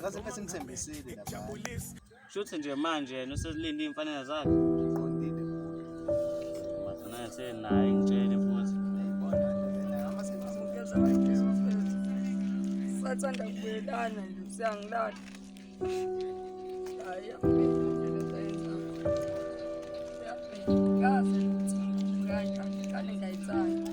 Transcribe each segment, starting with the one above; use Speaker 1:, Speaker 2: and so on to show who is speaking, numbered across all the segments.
Speaker 1: ngaze ngathi ngithembisile shuthi nje
Speaker 2: manje yena uselinde iy'mfanelo zakhe
Speaker 1: naye
Speaker 2: senaye ngitshele futhi
Speaker 3: sathanda kubuyelana nje usiyangilala hayi kazi ukuthi
Speaker 4: ngane ngayithanda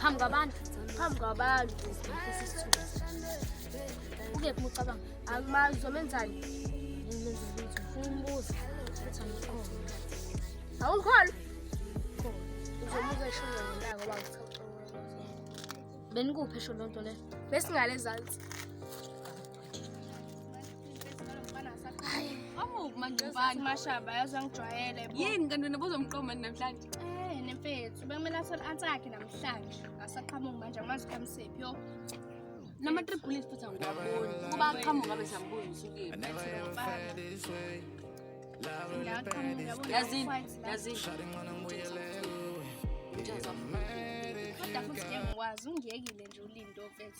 Speaker 5: phambi kwabantu phambi kwabantu ukephi mucabanga akumazi zomenzani umbuza awungikholwa uzomuka esho ngendawo ngoba ngichaucaucau benikuphi esho loo nto leyo besingale ezantsi
Speaker 6: Mangcubani mashaba yaze angijwayele bo. Yini kanti wena bozomqoma namhlanje? Eh nemfethu
Speaker 5: bekumele athole answer yakhe namhlanje. Asaqhamuki manje
Speaker 6: amazi kamsephi yo. Nama three bullets futhi angiyaboni. Kuba aqhamuka bese angiboni usukile. Yazini, yazini.
Speaker 5: Kodwa futhi ngiyakwazi ungiyekile nje ulindo mfethu.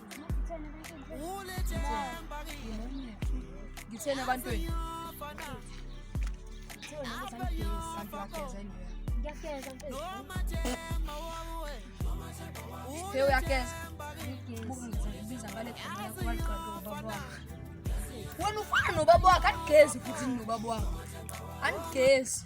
Speaker 3: ngitheni
Speaker 5: abantweni
Speaker 3: Pheo uyageza biza ngale wena ufana nobaba wakho andigezi futhi nobaba wakho andigezi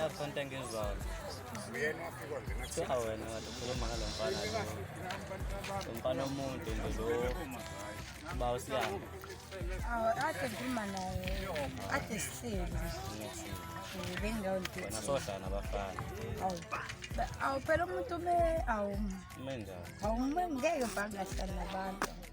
Speaker 2: yakhonta ngezwalo kuthiwa wena kade ukhuluma ngalo mfana lo mfana omude nje lo uba usiyanga
Speaker 3: ade ngikhuluma naye ade sihleli bengingawnti wena sohlala nabafana awu phela umuntu ume awu ume
Speaker 2: njani awu ume ngeke
Speaker 3: bhangahlala nabantu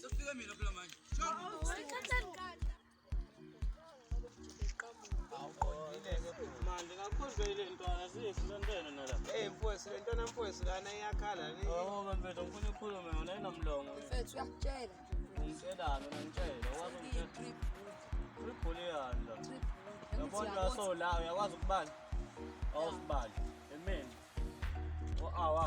Speaker 6: Sokufika mina
Speaker 2: phela manje. manje kakhuzwe ile ntwana siyisilentene nala Hey mfowethu le ntwana mfowethu
Speaker 4: lana iyakhala ni. oba mfethu ngifuna
Speaker 2: ukhulume yona inomlomo Mfethu uyakutshela.
Speaker 6: ngitshelani
Speaker 2: wena ngitshela wazi ngitshela ulibhuliyani la yabona uyasolayo uyakwazi ukubala awusibali emeni o-awa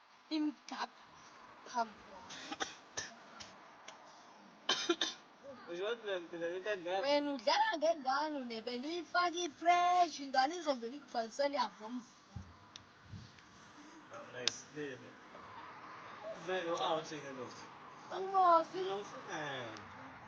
Speaker 6: Steam
Speaker 2: duck Wena udlala ngengane
Speaker 6: unebe niyifaka ifresh ingane izovela ikubhalisele yabo mfana.
Speaker 2: Vele u-out ke lo.
Speaker 6: Angimosi. Eh.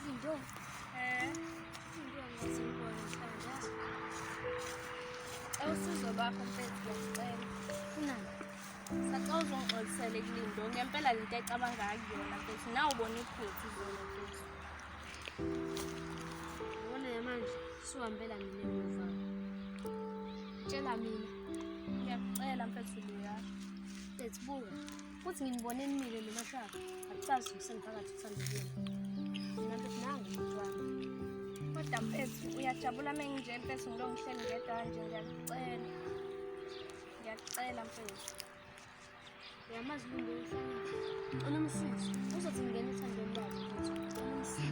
Speaker 5: Izinto. Eh. Izinto ngizibona mhlawumbe. Awusizo bakho mfethu ngiyacela. Kunani? Sacela uzongixolisela ekulindo ngempela lento ecabanga kuyona mfethu nawe ubona iphuthu zona mfethu. Ubona manje siwambela mina emuva. Tshela mina. Ngiyakucela mfethu Leya. Let's buka. Futhi nginibone enimile noma cha. Akucazi usengiphakathi uthandile. Mina nto nangu umntwana. Kodwa mfethu uyajabula uma nginje mfethu ngilokhu ngihleli ngedwa kanje ngiyakucela. Ngiyakucela mfethu. Uyamazi umuntu oyifanele. Unomsizi. Uzothi ngingena ethandweni lakhe futhi. Unomsizi.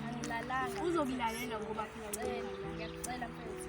Speaker 5: Angilalanga. Uzokulalela ngoba phela ngicela. Ngiyakucela mfethu.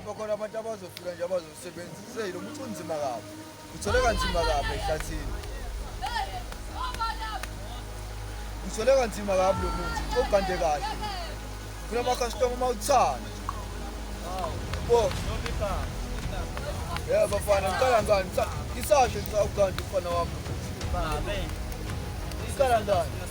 Speaker 7: mhlawumbe
Speaker 1: khona abantu abazofika nje abazosebenzisa lo muthi unzima kabi Uthole kanzima kabi ehlathini. Uthole kanzima kabi lo muthi ogande kahle. Funa ama-customer uma uthanda. Bo. Yebo bafana, ngiqala ngani? Isasho ngisawuganda umfana wami. Babe.
Speaker 2: Ngiqala
Speaker 1: ngani?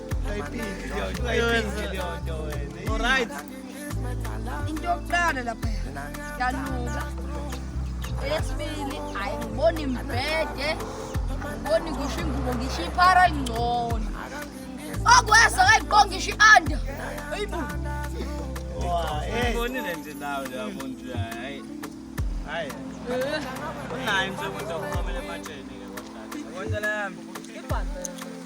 Speaker 2: Alright.
Speaker 3: Into yokuqala lapha yanuka. Eyesibili hayi ngiboni mbhede. Ngiboni ngisho ingubo ngisho iphara lingcono. Okwesa kayiqonga ngisho ianda. Ayibu. Wa, eh.
Speaker 2: Ngibonile nje nawe lapho nje hayi. Hayi. Unayo nje umuntu okhomela ematsheni ke kodwa. Kodwa la yami. Ibhanti.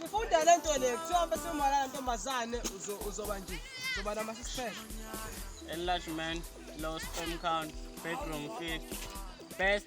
Speaker 2: Sifunda le nto le
Speaker 4: kuthiwa bese umalala ntombazane uzoba nje uzoba nama six pack. Enlargement,
Speaker 2: low sperm count, bedroom fit, best